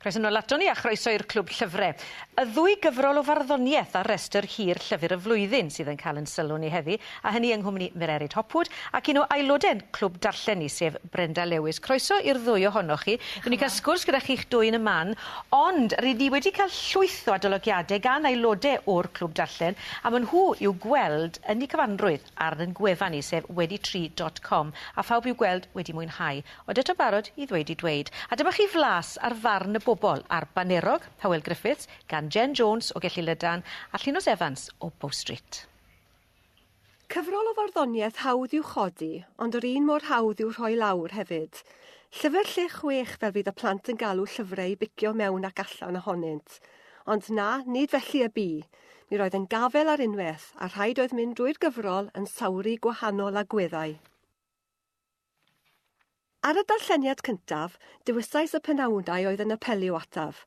Croeso nôl ato ni a chroeso i'r Clwb Llyfre. Y ddwy gyfrol o farddoniaeth ar restr hir Llyfr y Flwyddyn sydd yn cael yn sylw ni heddi, a hynny yng nghwmni Mererid Hopwood ac un o aelode'n Clwb Darllen ni, sef Brenda Lewis. Croeso i'r ddwy ohonoch chi. Dwi wedi cael sgwrs gyda chi'ch dwy yn y man, ond rydyn ni wedi cael llwyth o adolygiadau gan aelodau o'r Clwb Darllen, a maen nhw i'w gweld yn eu cyfanrwydd ar ein gwefan ni, sef wedi tri dot com, a phawb i'w gweld wedi mwynhau. Ond eto'n barod i ddweud ei dweud. A dyma chi flas ar farn y bobl ar Banerog, Hywel Griffiths, gan Jen Jones o Gelli Lydan a Llinos Evans o Bow Street. Cyfrol o farddoniaeth hawdd i'w chodi, ond yr un mor hawdd i'w rhoi lawr, hefyd. Llyfr lle chwech fel fydd y plant yn galw llyfrau i bicio mewn ac allan ohonynt. Ond na, nid felly y bu. Mi roedd yn gafael ar unwaith, a rhaid oedd mynd drwy'r gyfrol yn sawru gwahanol agweddau. Ar y darlleniad cyntaf, dewisais y penawdau oedd yn apelio ataf,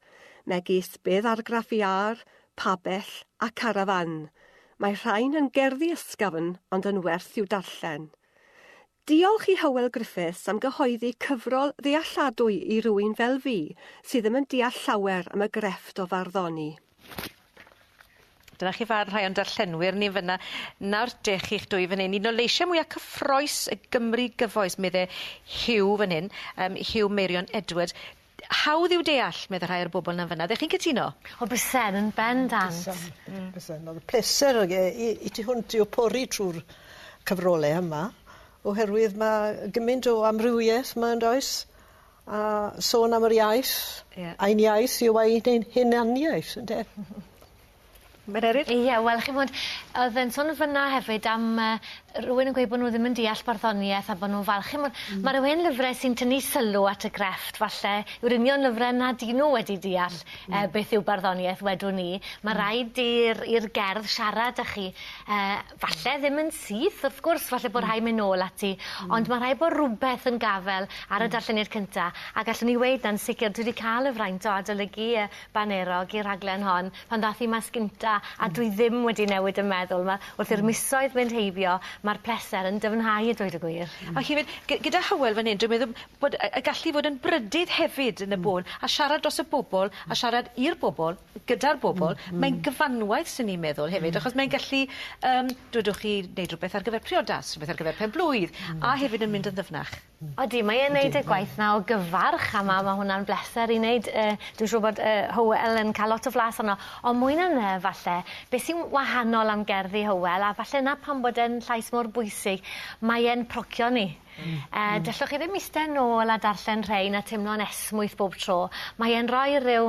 megis Bydd Argraff Iâr, Pabell a Carafán. Mae rhain yn gerddi ysgafn ond yn werth i'w darllen. Diolch i Hywel Griffiths am gyhoeddi cyfrol ddealladwy i rywun fel fi sydd ddim yn deall llawer am y grefft o farddoni. Dyna chi farn rhai o'n darllenwyr ni fyna. Nawr dech chi'ch dwy fan hyn, un o leisiau mwyaf cyffroes y Gymru gyfoes, medde Hugh fan hyn, um, Hugh Meirion Edward. Hawdd yw deall, medde rhai o'r bobl na fyna. Ddech chi'n cytuno? O, bysen, yn ben dant. Bysen, mm. bysen. Oedd y pleser i, i ti hwnt i'w pori trwy'r cyfrolau yma, oherwydd mae gymaint o amrywiaeth mae'n does. A sôn am yr iaith. Ie. Ein iaith yw ei ein hunaniaeth ynde? Mererid? Ie wel chi'mod odd e'n sôn fyn 'na hefyd am yy rywun yn gweud bo' nw ddim yn deall barddonieth a bo' nw'n falch chi'mod ma' ryw hen lyfre sy'n tynnu sylw at y grefft falle yw'r union lyfre na 'dyn nw wedi deall yy beth yw barddonieth wedwn i ma' raid i'r i'r gerdd siarad â chi yy Falle ddim yn syth wrth gwrs falle bo' rhai myn' nôl ati ond ma' rhai' bo' rwbeth yn gafel ar y darlleniad cynta a gallwn i weud na'n sicir dwi 'di ca'l y fraint o adolygu yy Banerog i'r rhaglen hon pan ddath 'i mas gynta a dwi ddim wedi newid y meddwl 'ma wrth i'r misoedd mynd heibio ma'r pleser yn dyfnhau a dweud y gwir. A hefyd gy- gyda Hywel fan 'yn dwi'n meddwl bod y y gallu i fod yn brydydd hefyd yn y bôn a siarad dros y bobol a siarad i'r bobol. gyda'r bobl, mae'n gyfanwaith swn i'n meddwl hefyd achos mae'n gallu yym dwedwch chi neud rwbeth ar gyfer priodas, rwbeth ar gyfer pen-blwydd a hefyd yn mynd yn ddyfnach. Odi mae e'n neud y gwaith 'na o gyfarch a ma' ma' hwnna'n bleser i neud yy dwi'n siŵr bod yy Hywel yn ca'l lot o flas onno on' mwy na 'ny falle be' sy'n wahanol am gerddi Hywel a falle 'na pam bod e'n llais mor bwysig mae e'n procio ni. Yy dellwch chi ddim iste nôl a darllen rhein a teimlo'n esmwyth bob tro mae e'n roi ryw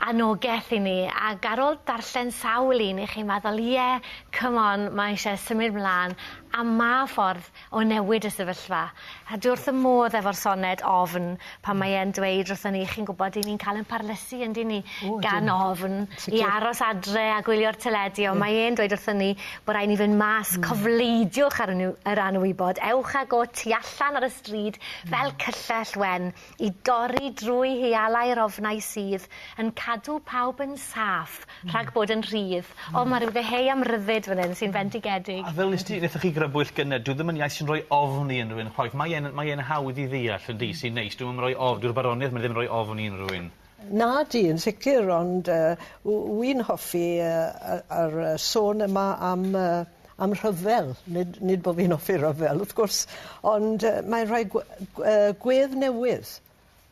anogeth i ni ag ar ôl darllen sawl un i chi'n meddwl ie come on mae eisiau symud mlan a ma' ffordd o newid y sefyllfa a dwi wrth fy modd efo'r soned ofn pan mae e'n dweud wrthon ni chi'n gwbod 'yn ni'n ca'l ein parlysu yndyn ni? O ydyn. Gan ofn... Sicir. ...i aros adre a gwylio'r teledu on' mae e'n dweud wrthon ni bo' rai' ni fyn' mas. Hmm. Cofleidiwch ar y niw- yr anwybod ewch ag o tu allan ar y stryd fel cyllell wen i dorri drwy hialau'r ofnau sydd yn cadw pawb yn saff Rhag bod yn rhydd. O ma' ryw ddeheu am ryddid fan 'yn sy'n fendigedig. A fel nes ti nethoch chi grybwyll gynne dyw ddim yn iaith sy'n roi ofn i unrywun chwaith mae e'n mae e'n hawdd i ddeall yn dyw? Sy'n neis dyw e 'im yn roi of- dyw'r baronieth 'ma ddim roi ofn i unrywun. Nadi yn sicir ond yy w- wi'n hoffi yy yy yr yy sôn yma am yy am rhyfel nid nid bo' fi'n offi ryfel wrth gwrs ond yy mae'n rhoi gwe- gw- yy gwedd newydd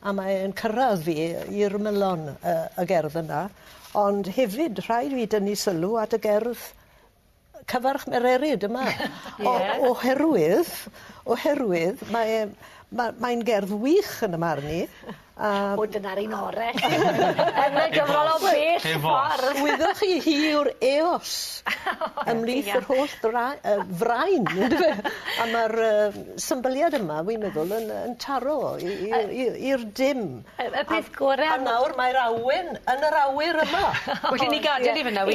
a mae e'n cyrradd fi i'r ymylon yy y gerdd yna ond hefyd rhaid fi dynnu sylw at y gerdd yy Cyfarch Mererid yma. Ie. O- oherwydd oherwydd mae e'n ma' mae'n gerdd wych yn 'ym marn i a... O dyna'r un ore. Yna gyfrol o bell ffordd. Eos. Wyddoch chi hi yw'r eos ymhlith yr holl dra- yy frain on'd yfe? A ma'r yym symbyliad yma wi'n meddwl yn yy yn taro i i yy i i'r dim. Y y peth gore am... A nawr mae'r awen yn yr awyr yma. Well i ni gadel 'i fyn 'na wir?